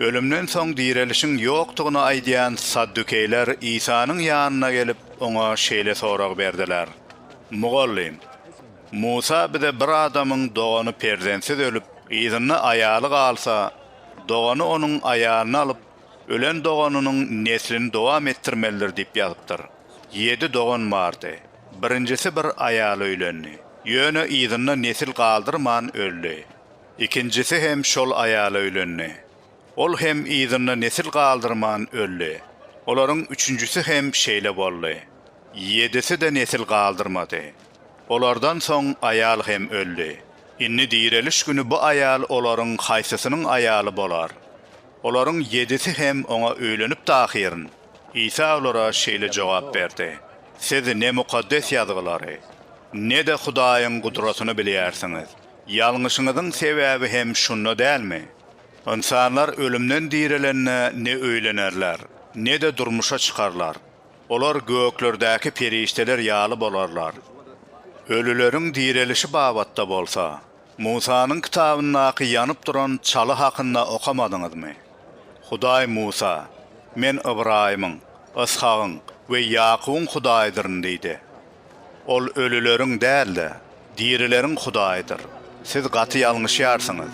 Ölümden soň direlişiň ýokdugyny aýdýan saddukeýler Isanyň ýanyna gelip, oňa şeýle sorag berdiler, Mugallym, Musa bize bir adamyň dogany perzentsiz ölüp, yzynda aýaly galsa, dogany onuň aýalyny alyp, ölen doganynyň neslini dowam etdirmelidir diýip ýazypdyr. Ýedi dogan bardy. Birinjisi bir aýala öýlendi. Ýöne yzynda nesil galdyrman öldi. Ikinjisi hem şol aýala öýlendi. Ol hem yzynda nesil galdyrman öldi. Olaryň üçünjisi hem şeýle boldy. Ýedisi-de nesil galdyrmady. Olardan soň aýal hem öldi. Indi direliş güni bu aýal olaryň haýsysynyň aýaly bolar? Olaryň ýedisi hem oňa öýlenipdi ahyryn. Isa olara şeýle jogap berdi, Siz ne Mukaddes Ýazgylary, ne-de Hudaýyň gudratyny bilýärsiňiz. Ýalňyşyňyzyň sebäbi hem şunda dälmi? Ynsanlar ölümden direlende ne öýlenerler, ne-de durmuşa çykarlar. Olar göklerdäki perişdeler ýaly bolarlar. Ölüleriň direlişi babatda bolsa, Musanyň kitabyndaky ýanyp duran çaly hakynda okamadyňyzmy? Hudaý Musa, Men Ybraýymyň, Yshagyň we Ýakubyň Hudaýydyryn diýdi. Ol ölüleriň däl-de, dirileriň Hudaýydyr. Siz gaty ýalňyşýarsyňyz.